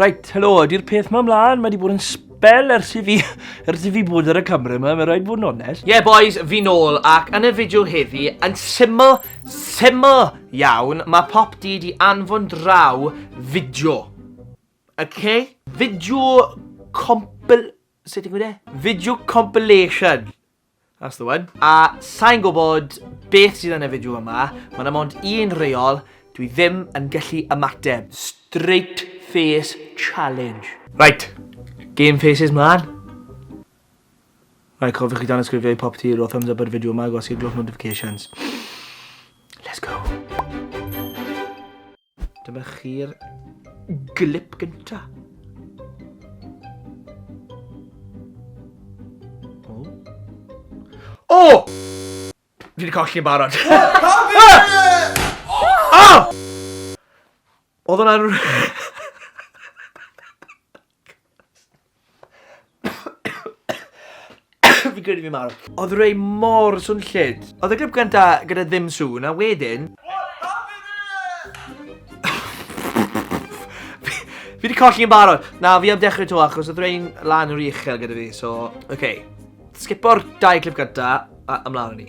Reit, helo, ydy'r peth ma mlaen, mae wedi bod yn sbel ers i fi, ers i fi bod ar y camera yma, mae rhaid bod yn onest. Ie yeah, boys, fi nôl, ac yn y fideo heddi, yn syml, syml iawn, mae pop di di anfon draw fideo. Okay? Fideo compil... sut ti'n gwneud e? Fideo compilation. That's the one. A sa'n gwybod beth sydd yn y fideo yma, mae yna mond un reol, dwi ddim yn gallu ymateb. Straight face challenge. Right, game faces mlan. Right, cofiwch i dan ysgrifio i popty, rho thumbs up ar y fideo yma, gosod glwch notifications. Let's go. Dyma chi'r glip gynta. O! O! Fi wedi colli yn barod. O! Oedd hwnna'n... Fi'n credu fi'n marw. Odd Ray mor swnllyd. Odd y clip gynta gyda ddim sŵn a wedyn... Fi 'di colli yn barod. Na, fi am dechrau 'to achos oedd rhain lan o'r uchel gyda fi, so... Oce. Scipo'r dau clip gynta, a ymlaen â ni.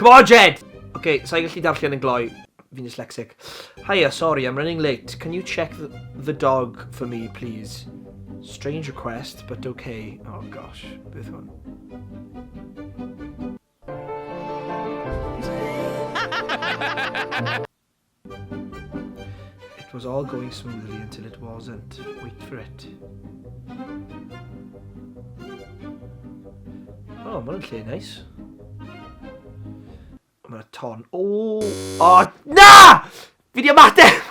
Come on, Jed! Oce, sa i'n gallu darllen yn gloi. Fi'n dyslexic. Hiya, sorry, I'm running late. Can you check the, the dog for me, please? Strange request, but okay. Oh gosh, beth hwn? It was all going smoothly until it wasn't. Wait for it. O, oh, mae'n lle neis. Mae'n ton. O! O, na! Fi di ymateb!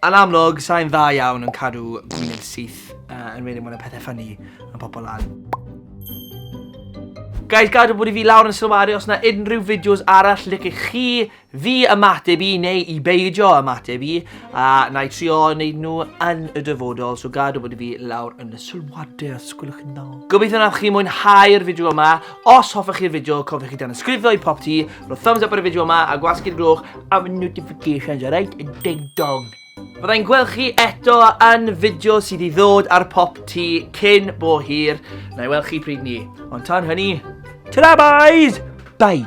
Yn amlwg, sai'n dda iawn yn cadw gwyneb syth, yn enwedig mae 'na pethau ffynnu yn popo lan. Guys, gadw bod i fi lawr yn sylwadu os yna unrhyw fideos arall licech chi fi ymateb i neu i beidio ymateb i, a na i trio wneud nhw yn y dyfodol, so gadw bod i fi lawr yn y sylwadau os gwelwch yn dda. Gobeithio wnaethoch chi mwynhau'r fideo yma. Os hoffech chi'r fideo, cofiwch i danysgrifio i pop ti, rhoi thumbs up ar y fideo yma a gwasgu'r gloch am y notifications, alright? Y ding dong. Fyddai'n gweld chi eto yn fideo sydd i ddod ar pop ti cyn bo hir. Na i weld chi pryd ni. Ond tan hynny, ta-ra boys! Bye!